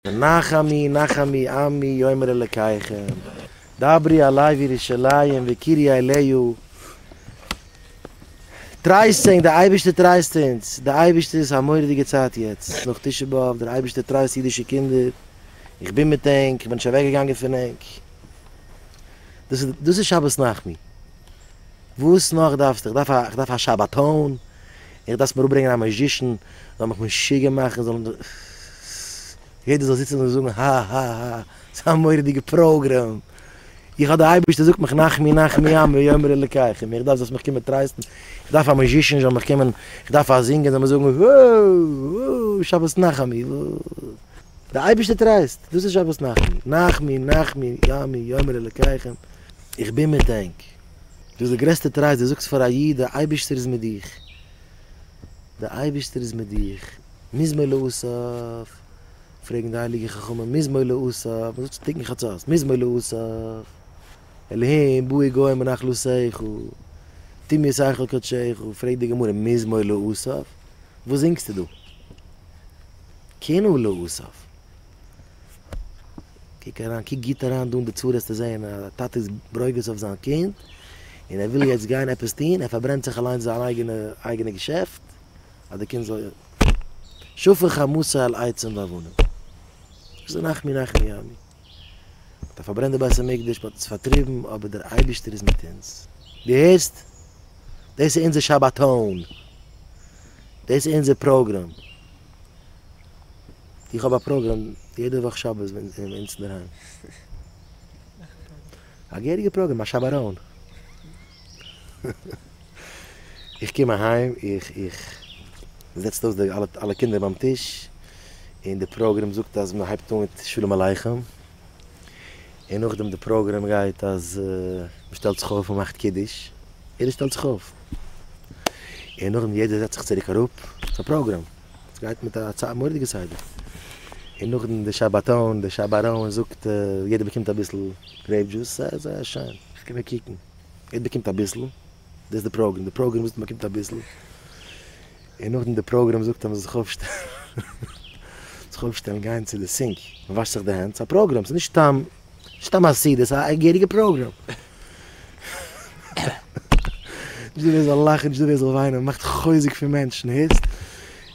נחמי נחמי עמי יאמר אלקיכם דברי אלי וירושלים וקיריי אליהו טרייסט ענק די אייבערשטער טרייסט אונז די אייבערשטער איז א מוראדיגע צייט יעצט נאך תשעה באב דער אייבערשטער טרייסט אידישע קינדער איך בין מיט ענק איך בין נישט אוועק געגאנגען פון ענק דאס איז שבת נחמי וואס נאך דארפסטו איך דארף א שבתון. איך דארף מיר אפברענגען א מעזשישן זאל מיך משוגע מאכן זאל יעדער זאל זיצן און זאגן הא הא הא ס'איז א מורא'דיגע פראגרעם איך האב די אייבערשטער זאגט מיך נחמי נחמי עמי יאמר אלקיך איך דארף זאלסט מיך קומען טרייסטן איך דארף א מעזשישן זאל מיך קומען איך דארף א זינגער זאל מיר זאגן הא הא שבת נחמי די אייבערשטער טרייסט דאס איז שבת נחמי נחמי נחמי עמי יאמר אלקיך איך בין מיט ענק. דאס איז די גרעסטע טרייסט, דו זאגסט פאר א איד די אייבערשטער איז מיט דיך, די אייבערשטער איז מיט דיך, מוז מען להוסיף, פרעגן די הייליגע חכמים, מוז מען להוסיף, מ'זאגט צו תיקון חצות, מוז מען להוסיף, אלהים באי גוי מנחלותיך, טו מיר שכל קדשך, פרעגט די גמרא, מוז מען להוסיף? וואס זינגסטו דא? כן הוא להוסיף. קוק אריין, קוק גוט אריין דא אין די צורה וועסטו זעהן א טאטע איז ברוגז אויף זיין קינד, און ער וויל יעצט גיין עפעס טון, ער פארברענט זיך אליינס זיין אייגענע אייגענע געשעפט, אז די קינד זאל יא. שפך חמתו על עצים ואבנים. וואס איז נחמי נחמי ימי? מען האט פארברענט די בית המקדש, מען האט אונז פארטריבן, אבער דער אייבערשטער איז מיט אונז. דו הערסט? דאס איז אונזער שבתון! דאס איז אונזער פראגראם! איך האב א פראגראם יעדע וואך שבת ווען איך בין ביי אונז אינדערהיים. א געהעריגע פראגראם, א שבעראון. איך קום אהיים, איך, איך, מ'זעצט אויס די אלע קינדער ביים טיש, און די פראגראם זאגט אז מ'הייבט אן מיט שלום עליכם, און נאכדעם די פראגראם גייט אז מ'שטעלט זיך אויף, מ'מאכט קידוש, יעדער שטעלט זיך אויף, און נאכדעם יעדער זעצט זיך צוריק אראפ, ס'איז א פראגראם. עס גייט מיט א צייט מורא'דיגע סדר, און נאכדעם די שבתון, די שברון זאגט יעדער באקומט אביסל גרעיפ דזשוס, סע איז זייער שיין, איך קום מיר קוקן, יעדער באקומט אביסל, דאס איז די פראגרעם, די פראגרעם זאגט מען באקומט אביסל, און נאכדעם די פראגרעם זאגט אז מען זאל זיך אויפשטעלן, זיך אויפשטעלן גיין צו די סינק, מען וואשט זיך די הענט, ס'איז א פראגרעם, ס'איז נישט סתם. סתם א סוד, עס איז א געהעריגע פראגראם. נישט דא ווער זאל לאכן, נישט דא ווער זאל וויינען, מען מאכט חוזק פון מענטשן, הערסט?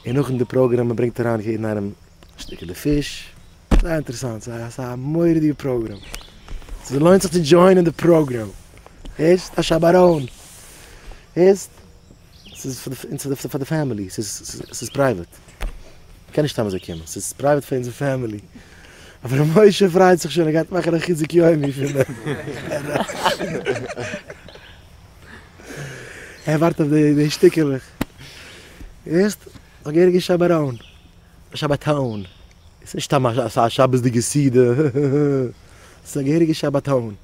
און נאכן די פראגראם מען ברענגט אריין יעדן איינעם שטיקעלע פיש, זייער אינטערעסאנט, ס'איז א ס'איז א מורא'דיגע פראגראם, ס'לוינט זיך צו דזשוינען די פראגראם, הערסט? א שב אריין, הערסט? ס'איז פאר די, און ס'איז פאר די פעמילי, ס'איז פרייוועט. מ'קען נישט סתם אזוי קומען, ס'איז פרייוועט פאר אונזער פעמילי. אבער ר' משה פריידט זיך שוין, ער גייט מאכן א חיזוק יומי פון דעם. ער ווארט אויף די שטיקעלעך. הערסט? זאג ערענג איז שבעראון. שבתאון. עס איז נישט סתם א שבת'דיגע סעודה, עס איז א געהעריגע שבתון,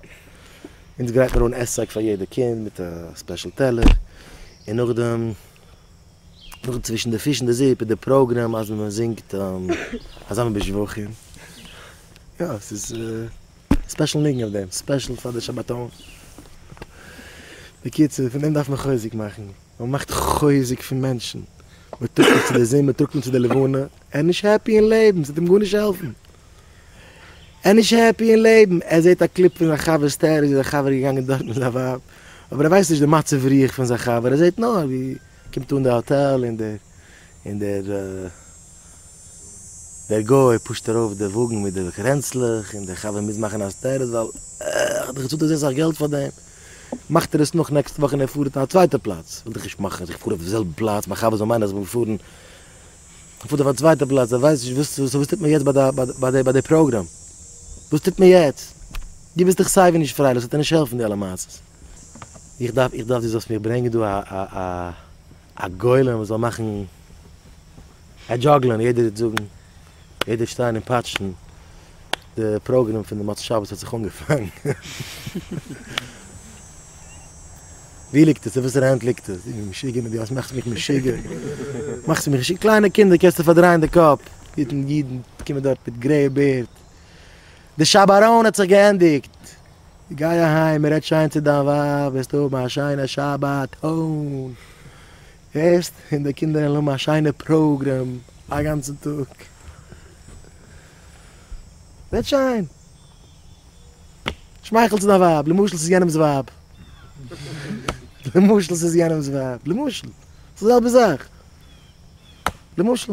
אונז גרייט מיר אן עסק פאר יעדע קינד מיט א ספעשל טעלער, און נאכדעם נאכדעם צווישן די פיש אין די זופ איז די פראגרעם אז מען זינגט אזאנע בשבחים, יא עס איז ספעשל ניגון אויף דעם, ספעשל פאר די שבתון, בקיצור פון דעם דארף מען חוזק מאכן. מען מאכט חוזק פון מענטשן, מען טראגט אים צו די זון, מען טראגט אים צו די לבנה, ער איז נישט העפי אין לעבן, ס'וועט אים גארנישט העלפן, ער איז נישט העפי אין לעבן, ער זעט א קליפ פון זיין חבר'ס טעראר ווי זיין חבר איז געגאנגען דארט מיט זיין ווייב, אבער ער ווייסט נישט די מצב רוח פון זיין חבר, ער זעט נאר ווי קומט אן די האטעל און דער און דער דער גוי פושט ארויף די וואגן מיט די קרענצלעך און די חבר מוז מאכן הסתרות ווייל ער האט דאך געצאלט אזוי סאך געלט פאר דעם. מאכט ער עס נאך נעקסטע וואך און ער פארט אויף א צווייטע פלאץ, וויל דאך נישט מאכן אז איך פאר אויף די זעלבע פלאץ, מיין חבר זאל מיינען אז איך בין געפארן, ער פארט אויף א צווייטע פלאץ, ער ווייסט נישט וואס, סאו וואס טוט מען יעצט ביי די פראגראם? וואס טוט מען יעצט? דו ביסט דאך סייווי נישט פרייליך, ס'וועט דיר נישט העלפן די אלע מעשות. איך דארף איך דארף דו זאלסט מיך ברענגען דא א א א. א גולם וואס זאל מאכן א דזשאגלען יעדער וועט זאגן יעדער וועט שטיין און פאטשן די פראגרעם פון די מוצאי שבת האט זיך אנגעפאנגען ווי ליגט עס אין וואסערע הענט ליגט עס די משוגע מיט די האסט מאכסט מיך משוגע מאכסט מיך משוגע קליינע קינדער קענסטו פארדרייען די קאפ אידן קומען דארט מיט גרעיע בערד. די שבת-ארון האט זיך געענדיגט, גיי אהיים און רעד שיין צו דיין ווייב, וועסטו האבן א שיינע שבת-ארון, הערסט? און די קינדער וועלן האבן א שיינע פראגרעם א גאנצן טאג. רעד שיין, שמייכל צו דיין ווייב, למשל ס'איז יענעמ'ס ווייב, למשל ס'איז יענעמ'ס ווייב, למשל, ס'איז די זעלבע זאך, למשל.